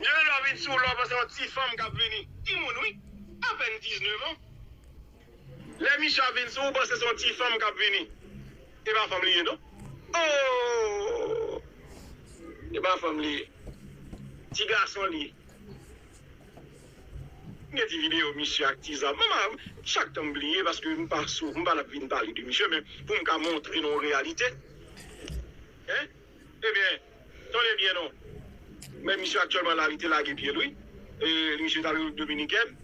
Yon lò vin sou lò panse yon ti fanm kap vini ti moun wi apèn 19 ans lè misye ap vin sou ou panse son ti fanm kap vini epa fanm li ye non ooh epa fanm li ye ti gason li ye m gen ti video misye ak ti zam mwen chak tan m bliye paske m pa sou m pa nan vin pale de misye men poum ka montre nou yon reyalite. Hein ebyen tande byen non men misye aktyèlman la li te lage pyel wi e misye tal repiblik dominikèn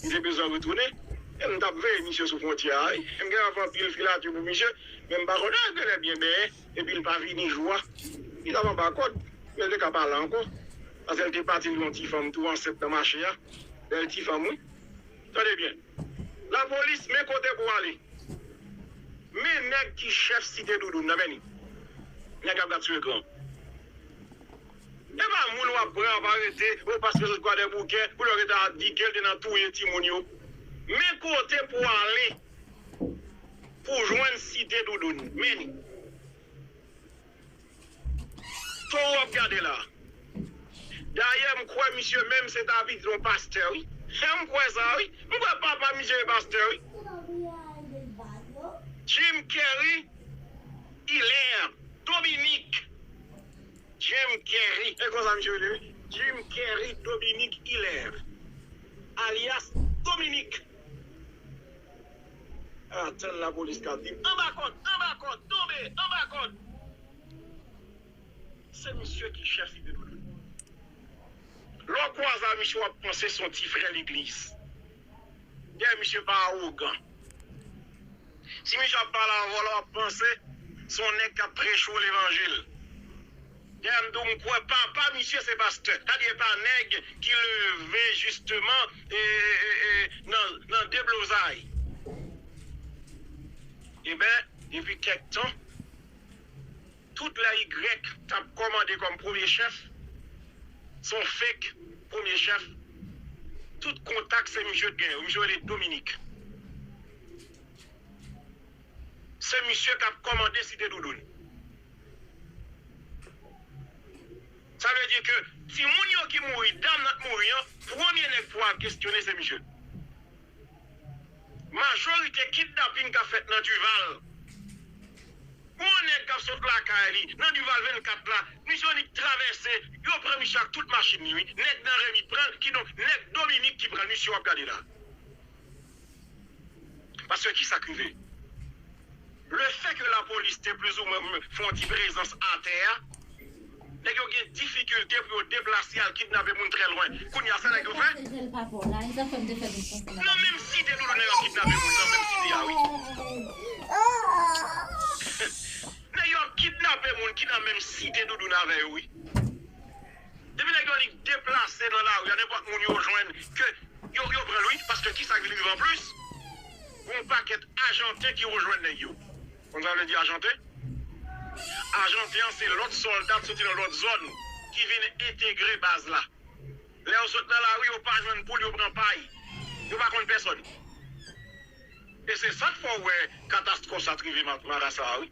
li te bezwen retounen e m tap veye misye sou fwontyè a wi m gen anpl anpil filati pou misye men m pa konnen lè l genlè byen benyen epil pa vini jou a li tap anba kòd men l te ka pa la ankò pase l te pati l yon ti fanm tou ansent nan mache a bèl ti fanm wi tande byen. La police men kote pou ale. Men nèg ki chèf site doudoune nan men li. Nèg ap gad sou ekran. Epa moun wap pran wap arete oh paske yo sot kwadèboukè pou yo rete ap di kel te nan touye timoun yo. Men kote pou ale pou jwenn site doudoune. Men li. Toro wap gade la. Dayè m kwè misye menm se ta vin yon pastè wi. M kwè sa wi. M kwè papa misye e pastè wi. Jim Kerry Hilaire Dominique Jim Kerry e konsa misye rele wi Jim Kerry Dominique Hilaire alyas Dominique. Atan la police kap vin anba kod anba kod tonbe anba kod se misye ki chef li depi le debut lè w kwaze a misye wap panse son ti frè legliz dayè misye pa awogan si misye ap pale avè w la wap panse son nèg kap preche w levanjil. Dam do m kwè papa misye se pastè. Gade epa nèg ki leve jisteman nan deblozay. Eben depi kèk tan tout lè y tap kòmande kòm premye chèf son fake premye chèf tout kontak se misye t gen yo misye rele Dominique. Se misye kap kòmande site doudoune. Sa vle di ke timoun yo ki mouri, dam nan k mouri an, premye nèg pou al kestyone se misye. Majorite kidnaping kap fèt nan Duval, pou yon nèg kap sot lakay li nan Duval 24 la, misye annik travèse, yo pran misye ak tout machin li wi, nèg nan Remy pranl, kidonk nèg Dominique ki pranl, misye wap gade la. Paske ki sa k rive? Le fè ke lapolis te plizoumwen fè yon ti prezans atè a, nèg yo gen difikilte pou yo deplase al kidnape moun trè lwen. Kounye a, sa nèg yo fè? Nan menm site toujou nèg yo ap kidnape moun, nan menm site a wi. Nèg yo ap kidnape moun ki nan menm site Doudoune avè yo wi. Depi nèg yo li deplase nan lari a nenpòt moun yo jwenn ke yo yo pranl wi paske kisa k vin rive anplis gon pakèt ajanten ki rejwenn nèg yo konn sa vle di ajanten? Ajanten an se lòt sòlda k soti nan lòt zòn ki vin entegre baz la lè yo sot nan lari yo pa jwenn poul yo pran pay yo pa konn pèsòn e se sa k fè w wè katastwòf sa t rive marasa a wi.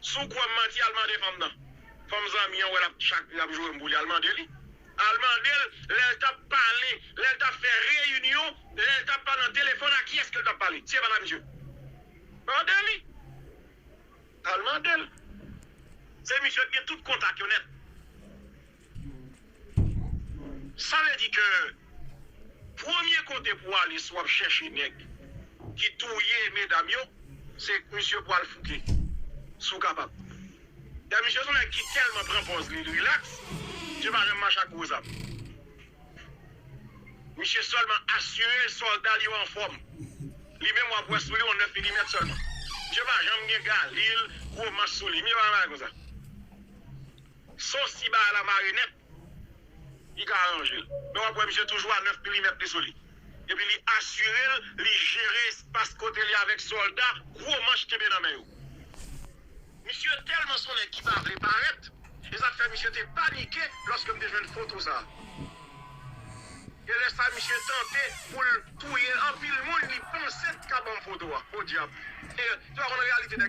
Sou kouw ap manti al mande fanm nan. Fanm zanmi an wè lap chak lap joure m pou li al mande li. Al mande l lèl tap pale, lèl tap fè reyinyon, lèl tap pale nan telefòn a kiyès kel tap pale si se pat a misye. Mande li. Al mande l. Se misye ki gen tout kontak yo nèt. Sa vle di ke premye kote pou ale si wap chèche nèg ki touye medam yo se misye pwal fouke si w kapab dan misye son nèg ki tèlman pran pòz li rilaks misye pa janm mache ak gwo zam misye sèlman asire sòlda l yo anfòm li menm wap wè sou li yon 9 milimèt sèlman misye pa janm gen galil gwo manch sou li misye pa janm mache konsa. Sof si bagay la mare nèt, li ka aranje l. Men w ap wè misye toujou a 9 milimèt li sou li. Epi li asire l li jere espas kote li avèk sòlda gwo manch kenbe nan men yo. Misye tèlman s on nèg ki pa vle parèt, e sa k fè misye te panike lòske m te jwenn foto sa a. E lè sa misye tante pou l touye anpil moun li panse k ka ban m foto a. Podyab! Ou pa konn reyalite nèg.